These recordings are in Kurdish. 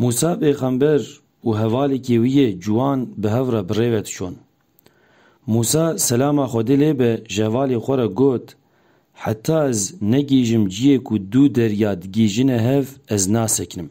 Mûsa pêxember û hevalêkê wî yê ciwan bi hev re bi rê ve diçûn. Mûsa selama Xwedê lê be ji hevalê xwe re got, Heta ez negihîjim ciyê ku du derya digihîjine hev ez nasekinim.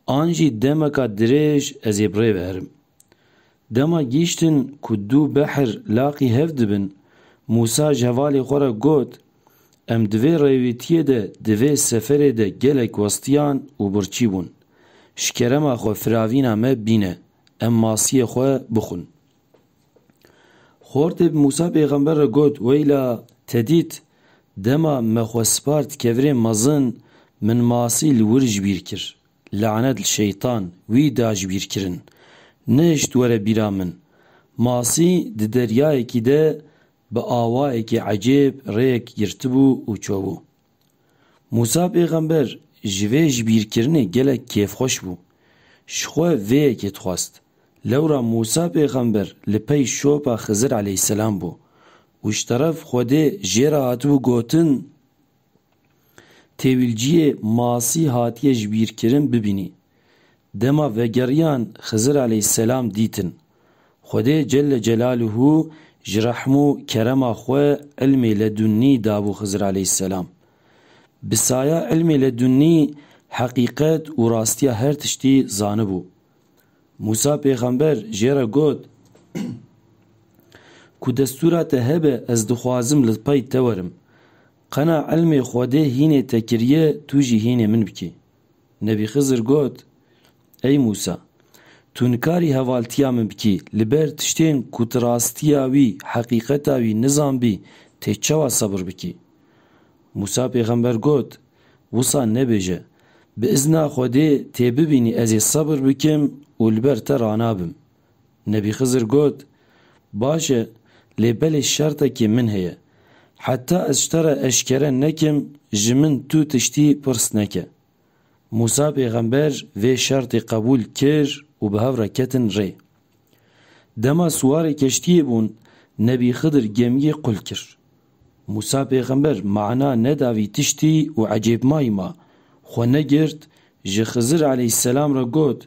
An jî demeka dirêj ez ê bi rê ve herim. Dema gihîştin ku dû behr laqî hev dibin, Mûsa ji hevalê xwe re got, Em di vê rêwîtiyê de di vê seferê de gelek westiyan û birçî bûn. Ji kerema xwe firavîna me bîne, em masiyê xwe bixwin. Xortê bi Mûsa pêxember re got, Weyla, te dît, dema me xwe spart kevirên mezin, min masî li wir ji bîr kir. Lanet li şeytan wî dajbîrkirin. Nehişt were bîra min. Masî di deryayekî de bi awayekî ecêb rêyek girtibû û çûbû. Mûsa pêxember ji vê jibîrkirinê gelek kêfxweş bû. Ji xwe vê yekê dixwest. Lewra Mûsa pêxember li pey şopa Xizir eleyhîsselam bû û ji teref Xwedê jê re hatibû gotin, Têwîlciyê masî hatiye ji bîr kirin bibînî. Dema vegeriyan Xizir aleyhîsselam dîtin. Xwedê Celle Celaluhu ji rehm û kerema xwe îlmê ledunnî dabû Xizir aleyhîsselam. Bi saya îlmê ledunnî heqîqet û rastiya her tiştî zanibû. Mûsa pêxember jê re got, Ku destûra te hebe ez dixwazim li pey te werim. Qena îlmê Xwedê hînê te kiriye tu jî hînê min bikî. Nebî Xizir got, Ey Mûsa! Tu nikarî hevaltiya min bikî li ber tiştên ku tu rastiya wî, heqîqeta wî nizanbî tê çawa sebir bikî? Mûsa pêxember got, Wisa nebêje, Bi izna Xwedê tê bibînî ez ê sebir bikim û li ber te ranabim. Nebî Xizir got, Baş e, lê belê şertekê min heye. Heta ez ji te re eşkere nekim, ji min tu tiştî pirs neke. Mûsa pêxember vê şertê qebûl kir û bi hev re ketin rê. Dema siwarê keştiyê bûn, Nebî Xizir gemiyê qul kir. Mûsa pêxember mana neda vî tiştî û ecêbmayî ma, xwe negirt, ji Xizir aleyhîsselam re got,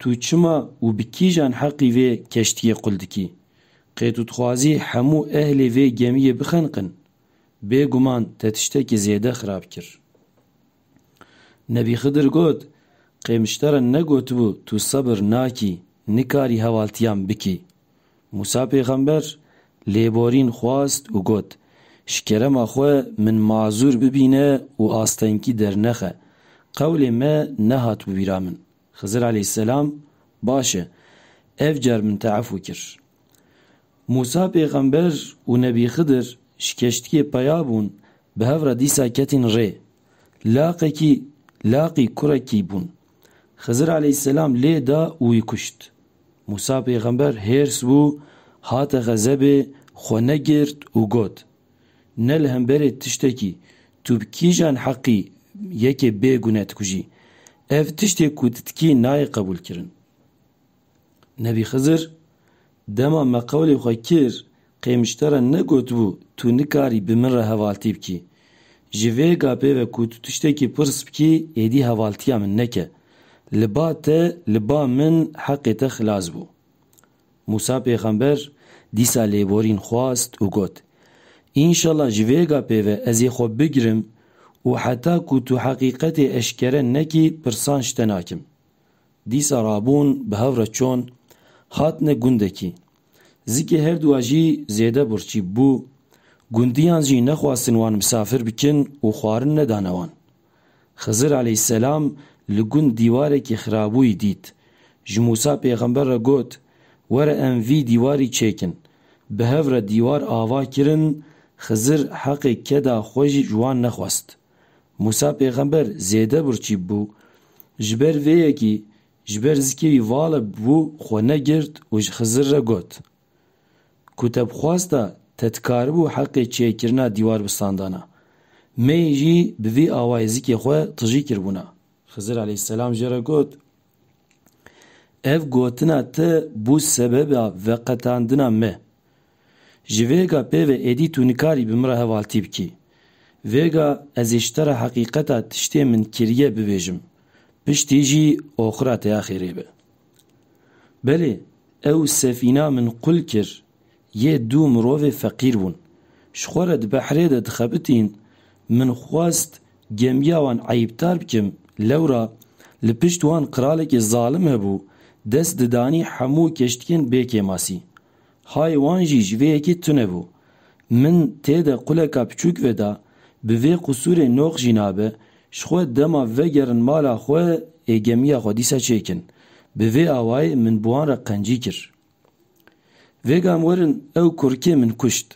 Tu çima û bi kîjan heqî vê keştiyê qul dikî? Qê tu dixwazî hemû ehlê vê gemiyê bixeniqin? Bêguman te tiştekî zêde xirab kir. Nebî Xidir got, Qê min ji te re negotibû tu sebir nakî, nikarî hevaltiyan bikî? Mûsa pêxember lêborîn xwast û got, Ji kerema xwe min mazûr bibîne û astengî dernexe. Qewlê me nehat bi wîra min. Xizir aleyhisselam, Baş e, ev car min te efû kir. Mûsa pêxember û Nebî Xidir ji keştiyê peya bûn, bi hev re dîsa ketîn rê. Laqekî, laqî kurekî bûn. Xizir aleyhisselam lê da û wî kuşt. Mûsa pêxember hêrs bû, hate xezebê, xwe negirt û got, Ne li hemberê tiştekî tu bi kîjan heqî yekê bê gune dikujî? Ev tiştê ku tu dikî nayê qebûlkirin. Nebî Xizir Dema me qewlê xwe kir, qêmişte re negotibû tu nikarî bi min re hevaltî bikî. Ji vê gapê ve ku tu tiştekî pirs bikî êdî hevaltiya min neke. Li ba te, li ba min heqê te xilas bû. Mûsa pêxember dîsa lêborîn xwast û got, Înşela ji vê gapê ve ez ê xwe bigirim û heta ku tu heqîqetê eşkere nekî pirsan ji te nakim. Dîsa rabûn bi hev re çûn, hatine gundekî. Zikê her du a jî zêde birçî bû, gundiyan jî nexwastin wan misafir bikin û xwarin nedane wan. Xizir aleyhîsselam li gund dîwarekî xirabûyî dît, ji Mûsa pêxember re got, Were em vî dîwarî çêkin. Bi hev re dîwar ava kirin, Xizir heqê keda xwe jî ji wan nexwest. Mûsa pêxember zêde birçîb bû. Ji ber vê yekî ji ber zikê wî vala bû xwe negirt û ji Xizir re got, Ku te bi xwesta te dikaribû heqê çêkirina dîwar bi standana, me yê jî bi vî awayê zikê xwe tijî kiribûna. Xizir aleyhisselam jê re got, Ev gotina te bû sebeba veqetandina me. Ji vê ga pêve êdî tu nikarî bi min re hevaltî bikî. Vê ga ez ê ji te re heqîqeta tiştê min kiriye bibêjim, piştî jî oxira te ya xêrê be. Belê, ew sefîna min qul kir, yê du mirovê feqîr bûn. Ji xwe re di behrê de dixebitîn, min xwest gemiya wan eyîbdar bikim, lewra li pişt wan qiralekî zalim hebû, dest didanî hemû keştiyên bê kêmasî. Hay wan jî ji vê yekê tune bû. Min tê de quleka piçûk veda, bi vê qusûrê noq jî nabe, ji xwe dema vegerin mala xwe ê gemiya xwe dîsa çêkin. Bi vê awayê min bi wan re qencî kir. Vêga em werin ew kurikê min kuşt.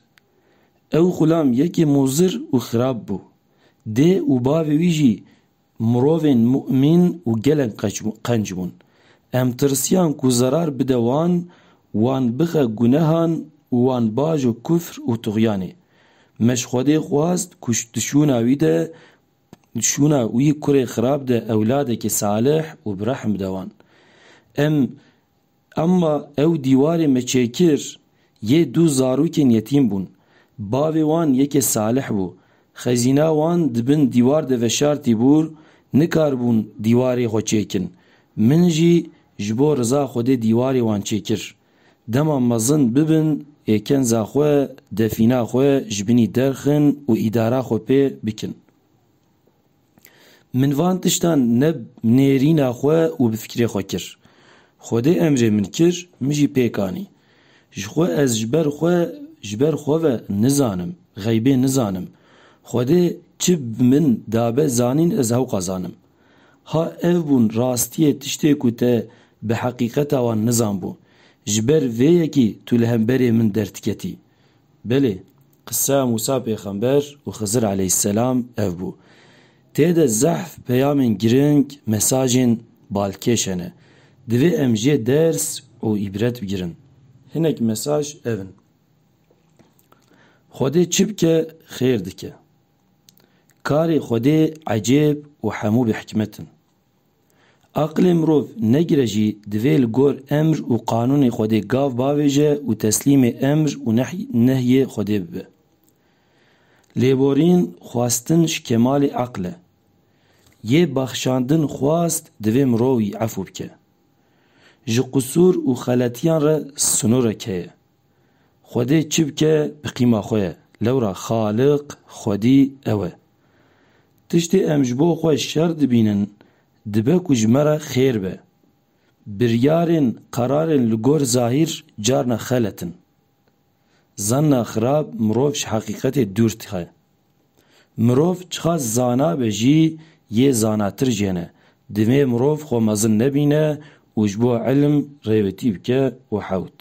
Ew xulam yekê mozir û xirab bû. Dê û bavê wî jî Mirovên mûmîn û gelek qenc bûn. Em tirsiyan ku zerar bide wan, wan bixe gunehan û wan bajo kufr û tuxyanê. Me ji Xwedê xwest ku di şûna wî de, di şûna wî kurê xirab de ewladekî salih û bi rehm bide wan. Em Emma ew dîwarê me çêkir yê dû zarokên yetîm bûn. Bavê wan yekê Salih bû. Xezîna wan di bin dîwar de veşartî bû, nikaribûn dîwarê xwe çêkin. Min jî ji bo riza Xwedê dîwarê wan çêkir. Dema mezin bibin ê kenza xwe, defîna xwe ji binî derxin û îdara xwe pê bikin. Min van tiştan ne nêrîna xwe û bi fikirê xwe kir. Xwedê emrê min kir, min jî pêk anî. Ji xwe ez ji ber xwe ji ber xwe ve nizanim, xeybê nizanim. Xwedê çi bi min dabe zanîn ez hewqa zanim. Ha ev bûn rastiyê tiştê ku te bi heqîqeta wan nizanbû. Ji ber vê yekî tu li hemberê min derdiketî. Belê, qisa Mûsa pêxember û Xizir eleyhisselam ev bû. Tê de zehf peyamên girîng, mesajên balkêş hene. Divê em jê ders û îbret bigirin. Hinek mesaj ev in. Xwedê çi bike xêr dike. Karê Xwedê ecêb û hemû bi hikmet in. Aqilê mirov negire jî divê li gor emr û qanûnê Xwedê gav bavêje û teslîmê emr û nehyê Xwedê bibe. Lêborîn xwestin ji kemalê aqil e. Yê bexşandin xwest divê mirov î efû bike. Ji qusûr û xeletiyan re sinûrek heye. Xwedê çi bike bi qîma xwe ye, lewra Xaliq, Xwedî, ew e. Tiştê em ji bo xwe şer dibînin dibe ku ji me re xêr be. Biryarên, qerarên li gor zahîr carna xelet in. Zanna xirab mirov ji heqîqetê dûr dixe. Mirov çiqa zana be jî yê zanatir jê ne. Divê mirov xwe mezin nebîne û ji bo îlim rêwetî bike û hewt.